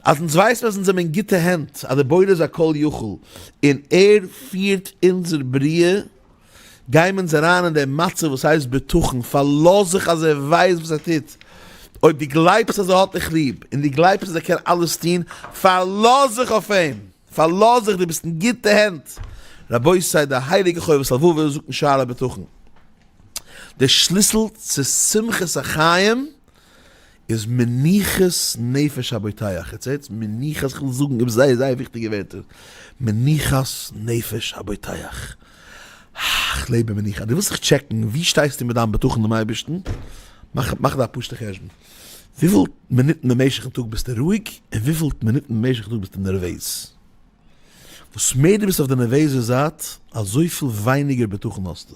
אז אונז ווייסן אז אונז זעמער אין גוטע הענט, אז דער בורא איז א כל יכול און ער פירט אונזער בריאה, גיימער אונז אריין אין דעם מצב וואס הייסט בטחון, פארלאז זיך אז ער ווייסט וואס ער טוט, אויב דו גלייבסט אז ער האט דיך ליב, און דו גלייבסט אז ער קען אלעס טון, פארלאז זיך אויף אים, פארלאז זיך דו ביסט אין גוטע הענט, רבותי דער הייליגער חובת הלבבות זאגט אין שער הבטחון, דער שליסל צו שמחת החיים איז מנוחת נפש הבוטח איך זעה יעצט מנוחת איך וויל זאגן איבער זייער זייער וויכטיגע ווערטער מנוחת נפש הבוטח איך לעב אין מנוחה דו ווילסט זיך טשעקן ווי שטייסטו מיט דיין בטחון אינעם אייבערשטן מאך מאך דא א פשוט'ע חשבון וויפיל מינוטן במשך די טאג ביסטו רואיג און וויפיל מינוטן במשך די טאג ביסטו נערוועז וואס מער דו ביסט אויף די נערוועזע זייט אזויפיל ווייניגער בטחון האסטו.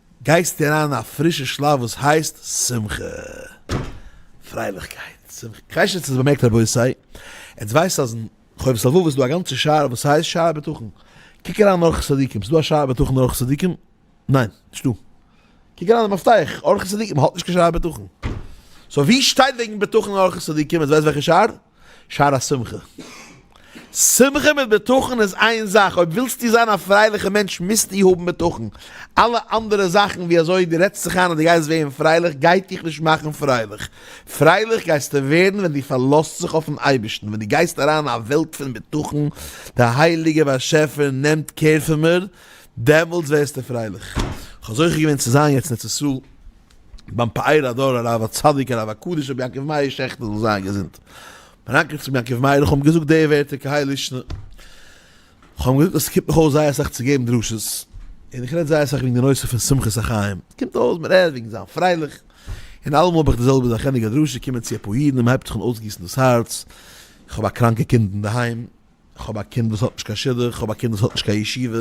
גייסטו אריין א פרישע שלב וואס הייסט שמחה, פרייליכקייט, שמחה. כ'ווייס נישט צו האסט באמערקט רבותי, עטס ווייסט אז אין חובת הלבבות איז דא א גאנצע שער וואס הייסט שער הבטחון, קוק אריין אין אורחות צדיקים, ס'דא א שער הבטחון אין אורחות צדיקים? ניין, נישט דא. קוק אריין אין מפתח, אורחות צדיקים האט נישט קיין שער הבטחון. סאו ווי שטייט וועגן בטחון אין אורחות צדיקים, עטס ווייסט וועלכע שער? שער השמחה. שמחה מיט בטחון איז איין זאך, אויב ווילסטו זיין א פרייליכע מענטש מוזטו האבן בטחון. אלע אנדערע זאכן ווי אזוי דו רעדסט זיך איין אז דו גייסט ווערן פרייליך גייט דיך נישט מאכן פרייליך. פרייליך גייסטו ווערן ווען דו פארלאזט זיך אויפן אייבערשטן, ווען דו גייסט אריין אין א וועלט פון בטחון, דער הייליגער באשעפער נעמט קער פון מיר, דעמאלטס ווערסטו פרייליך. כ'האב זוכה געווען צו זיין יעצט אין ארץ ישראל, ביים פאר הדור הרב הצדיק הרב הקדוש רבי יעקב מאיר שעכטער זאל זיין געזונט, מיין אנקל צבי יעקב מאיר איך האב אים געזאגט די ווערטער כהאי לישנא, איך האב אים געזאגט אז ס'קומט מיך אויס זייער אסאך צו געבן דרשות, און איך רעד זייער אסאך וועגן די נושא פון שמחת החיים, קומט אויס מען רעד וועגן זיין פרייליך, און אלעמאל האב איך די זעלבע זאך ענדיג א דרשה קומען צו אפאר אידן און מען הייבט זיך אן אויסגיסן דאס הארץ, איך האב א קראנקע קינד אינדערהיים, איך האב א קינד וואס האט נישט קיין שידוך, איך האב א קינד וואס האט נישט קיין ישיבה,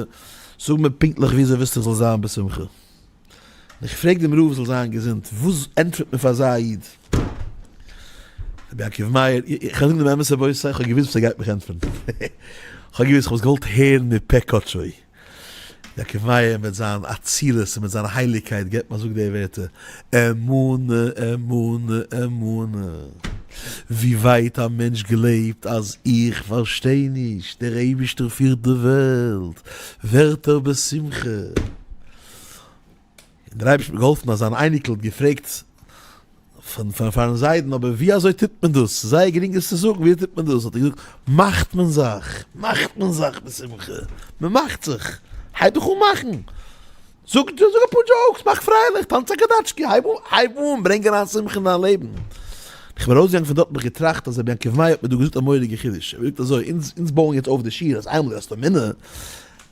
זאג מיר פונקטליך ווי אזוי ווילסטו איך זאל זיין בשמחה? און איך פרעג דעם רב זאל זיין געזונט, וואס ענטפערט מען פאר אזא איד? רבי עקיבא מאיר, איך וועל זאגן דעם אמת רבותי, איך האב געוואוסט וואס ער גייט מיך ענטפערן, איך האב געוואוסט, איך האב עס געוואלט הערן מפה קדשו. יעקב מאיר מיט זיין אצילות און מיט זיין הייליגקייט געבט מיר זאג די ווערטער, אמונה, אמונה, אמונה. ווי ווייט א מענטש גלייבט אז איך פארשטיי נישט, דער אייבישטער פירט די וועלט, ווערט ער בשמחה. און דער אייבערשטער האט געהאלפן אז זיין אייניקל האט געפרעגט פון פארן זיידן אבער ווי אזוי טוט מען דאס, ס'איז זייער גרינג עס צו זאגן, ווי אזוי טוט מען דאס, האט ער געזאגט, מאכט מען זיך, מאכט מען זיך בשמחה, מען מאכט זיך, הייב דיך אן מאכן, זאג זאג אפאר דזשאוקס, מאך פרייליך, טאנץ א קאדאטשקי, הייב אן, הייב אן, ברענג אריין שמחה אין דיין לעבן. איך בין ארויסגעגאנגען פון דארט האב איך געטראכט אז רבי יעקב מאיר האט מיר דא געזאגט א מורא'דיגע חידוש, ער האט געזאגט אזוי, אונז אונז בויען יעצט אויף די שיל אז איינמאל די האסט א מינע,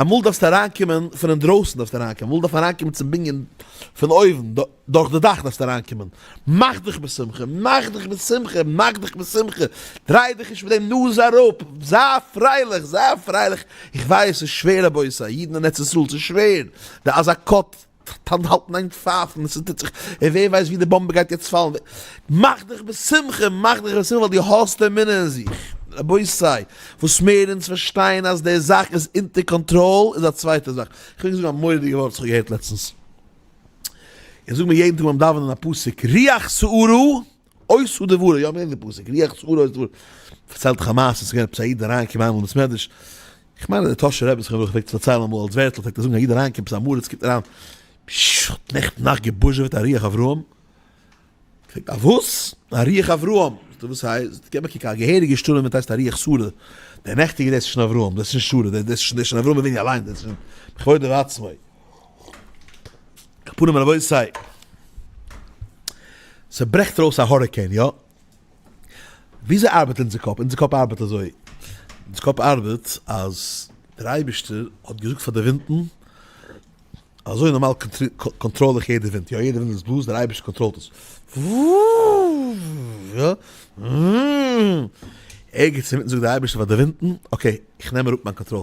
אמאל דארפסטו אריינקומען פון אינדרויסן דארפסטו אריינקומען, אמאל דארף מען אריינקומען צום בנין פון אויבן, דורך די דאך דארפסטו אריינקומען, מאך דיך בשמחה, מאך דיך בשמחה, מאך דיך בשמחה, דריי דיך נישט מיט דעם נאז אראפ, זיי פרייליך, זיי פרייליך, איך ווייס ס'איז שווער רבותי, אידן אין ארץ ישראל ס'איז שווער, די אזא קאפ טאנט האלטן איין פייפן, עס איז טוט זיך, און ווער ווייסט ווי די באמבע גייט יעצט פאלן, מאך דיך בשמחה, מאך דיך בשמחה ווייל דו האסט אמונה אין זיך, רבותי, וואס מער אונז פארשטייען אז די זאך איז אונטער קאנטראל איז א צווייטע זאך, איך וויל זאגן א מורא'דיגע ווארט וואס איך האב געהערט לעצטנס, איך זאג מיר יעדן טאג ביים דאווענען א פסוק, ריח שערו אוי סאדע ווארע, יא מ'לערנט די פסוק, ריח שעורה אוי סאדע ווארע, פארציילט דעך א מעשה, ס'איז געווען עפעס א איד אריינגעקומען איינמאל אין בית מדרש, איך מיין אז די טאהשער רבי זכרונו לברכה פלעגט עס פארציילן אמאל אלס ווערטל, פלעגט ער זאגן א איד אריינגעקומען עפעס א מרה, עס קומט אריין, פששש כ'האב נעכטן נאכט געבוזשעוועט א ריח אברהם, פרעגט א וואס? א ריח אברהם, זאגט ער וואס הייסט? זאגט ער גיי באקוק א געהעריגע שטורעם ווען ס'הייסט א ריח שורה, דער נעכטיגע דעס איז שוין אברהם, דעס איז שוין שורה, דעס איז שוין אברהם אבינו אליינס, דעס איז שוין בכבודו ובעצמו. קאפאנעם רבותי. ס'ברעכט אויס א האריקעין יא? וויאזוי ארבעט אונזער קאפ? אונזער קאפ ארבעט אזוי, אונזער קאפ ארבעט אז דער אייבערשטער האט געזאגט פאר די ווינטן, אזוי נארמאל קאנטראל איך יעדע ווינט יא, יעדע ווינט וואס בלאזט דער אייבערשטער קאנטראלט עס. ערגעץ אינמיטן זאגט דער אייבערשטער פאר די ווינטן, אקעי איך נעם אראפ מיין קאנטראל,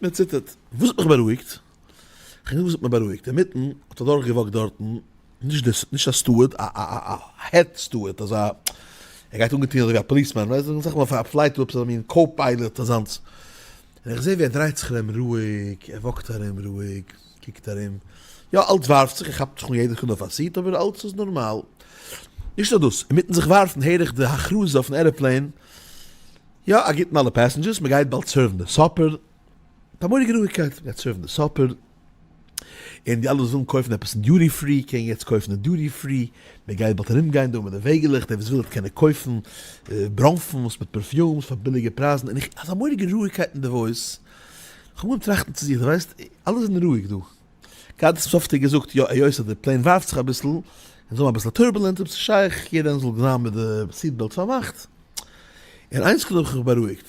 מען ציטערט. וואס האט מיך בארואיגט? כ'קען זאגן וואס האט מיך בארואיגט, אינמיטן האט אדורך געוואקט דארטן, נישט די נישט א סטוארד, א א א העד סטוארד, אזא ער גייט אנגעטוהן אזוי ווי א פאליסמאן, ווייסט וועלכע זאכן מען האט אויף א פלייט, עפעס אזא מין קאו-פיילעט אזאנס, און איך זע ווי ער דרייט זיך ארום רואיג, ער וואקט ארום רואיג, קוקט ארום, יא אלץ ווארפט זיך, ער כאפט זיך אן יעדע סעקונדע אויף א סיט, אבער אלץ איז נארמאל. נישט נאר דאס, אינמיטן זיך ווארפן הער איך די הכרזה אויפן עראפלעין, יא א גוטן אלע פעסענדזשערס, מען גייט באלד סערוו'ן די סאפער, פארמאגט רואיגקייט, מען גייט סערוו'ן די סאפער, און די אלע וואס ווילן קויפן עפעס אין דיוטי פרי קענען יעצט קויפן אין דיוטי פרי, מען גייט באלד ארום גיין דא מיט די וועגעלעך, דער וואס וויל וועט קענען קויפן ברוינפנס מיט פערפיומס פאר ביליגע פרייזן, און איך אזא מורא'דיגע רואיגקייט אינדערויס, כ'בין געווארן טראכטן צו זיך, דו ווייסט, אלעס איז אין רואיג דא. גייט עס צופטער געזאגט יא היות אז די פלעין ווארפט זיך אביסל און זיי האבן אביסל טורבולענט אויב ס'שייך יעדער איינער זאל זיין מיט די סיעט בעלט פארמאכט און איינס קודם האב איך בארואיגט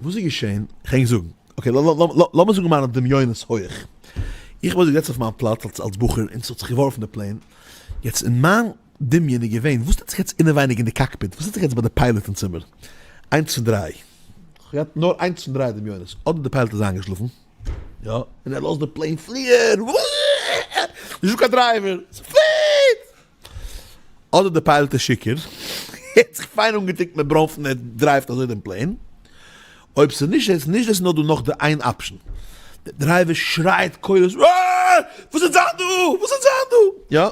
וואס איז געשען כ'הענג זאגן אקעי לאמיר זאגן מיינע דמיונות הויעך איך וואלט געזעצט אויף מיין פלאץ אלס אלס בחור און ס'האט זיך געווארפן די פלעין יעצט אין מיין דמיון איז געווען וואס טוט זיך יעצט אינעווייניג אין די קאקפיט וואס טוט זיך יעצט ביי די פיילאט אין צימער איינס פון דריי כ'האב געהאט נאר איינס פון דריי דמיונות אדער די פיילאט איז איינגעשלאפן. יא, און ער לאזט די פלעין פליען, נישטא קיין דרייווער, ס'פליעט! אדער די פיילעט איז שיכור, ער האט זיך פיין אנגעטונקט מיט ברוינפן און ער דרייווט אזוי דעם פלעין, אויב ס'איז נישט איז נישט דאס נאר דא נאך די איין אפשן, דער דרייווער שרייט קולות, וואס וועט זיין דא? וואס וועט זיין דא? יא,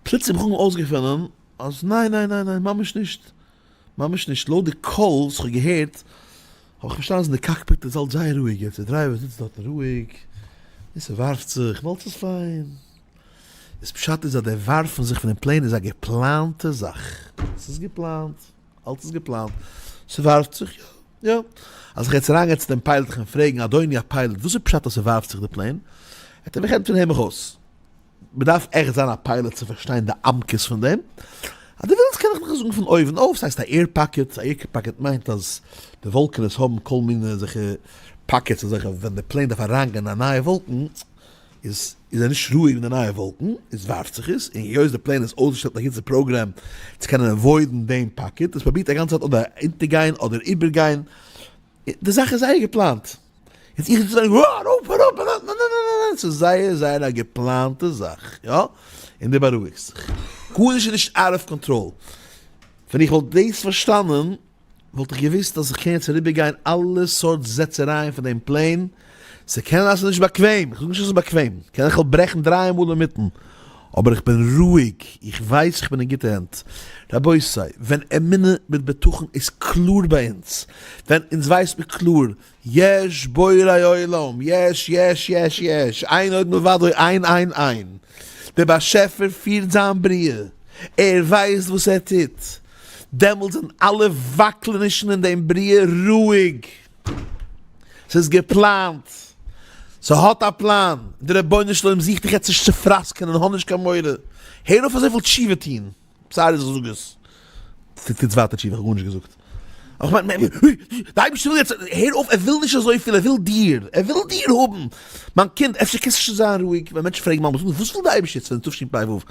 פלוצים האט מען אויסגעפונען אז ניין ניין ניין ניין ממש נישט. ממש נישט, לויט די קול וואס כ'האב געהערט האב איך פארשטאנען אז אין די קאקפיט איז אלץ זייער רואיג יעצט, די דרייווער זיצט דארטן רואיג און ס'ווארפט זיך, אלץ איז פיין. איז פשט איז אז די ווארפן זיך פונעם פלעין איז א געפלאנטע זאך? ס'איז געפלאנט, אלץ איז געפלאנט, ס'ווארפט זיך יא יא. אז איך וועל יעצט אריינגיין צו דעם פיילאט איך ווען פרעגן אדוני הפיילאט וואס איז פשט אז ס'ווארפט זיך די פלעין? העט ער מיך ענטפערן הער מיך אויס. מ'דארף עכט זיין א פיילעט צו פארשטיין די עמקות פון דעם. אז דו ווילסט קען איך דיך עס זאגן פון אויבן אויף. ס'הייסט א עיר פאקעט, א עיר פאקעט מיינט אז די וואלקענעס האבן כל מיני אזעלכע פאקעטס אזעלכע ווען די פלעין דארף אריינגיין אין א נייע וואלקן איז ער נישט רואיג אין די נייע וואלקן, עס ווארפט זיך עס, און היות די פלעין איז אויסגעשטעלט מיט א גאנצע פראגרעם צו קענען עוואוידן דעם פאקעט, עס פרובירט א גאנצע צייט אדער אונטערגיין אדער איבערגיין, די זאך איז זייער געפלאנט, יעצט איך זאל זאגן אה ארויף אראפ אראפ, ניין ניין ניין ניין, ס'איז זייער זייער א געפלאנטע זאך, יא, און דו בארואיגסט זיך, גארנישט איז נישט אוט אוו קאנטראל, ווען איך וואלט דאס פארשטאנען וואלט איך געוואוסט אז איך קען יעצט אריבערגיין אלע סארט זעצערייען פון דעם פלען, ס'קען זיין ס'איז נישט באקוועם, איך זאג נישט אז ס'איז באקוועם, קען איך וועל ברעכן דרײַ מאל אינמיטן, אבער איך בין רואיג, איך ווייס איך בין אין גוטע הענט. רבותי, ווען אמונה מיט בטחון איז קלאר ביי אונז, ווען אונז ווייסט מיר קלאר, יש בורא עולם, יש, יש, יש, יש, איין עוד מלבדו, איין, איין, איין, דער באשעפער פירט זיין בריאה, ער ווייסט וואס ער טוט, דעמאלט זענען אלע וואקלענישן אין דעם בריאה רואיג. ס'איז געפלאנט, ס'האט א פלאן, דער רבונו של עולם זוכט דיך יעצט נישט צו פראסקענען, האב נישט קיין מורא, הער אויף אזויפיל תשובה טון, סארי אז איך זאג עס, טוטס ווייטער תשובה, איך האב גארנישט געזאגט, איך מיין, די אייבערשטער וויל יעצט, הער אויף, ער וויל נישט אזויפיל, ער וויל דיר, ער וויל דיר האבן, מיין קינד, אפשר קענסטו שוין זיין רואיג, ווען מענטשן פרעגן מיין באזונדער, וואס וויל די אייבערשטער יעצט פון די תשפ ו,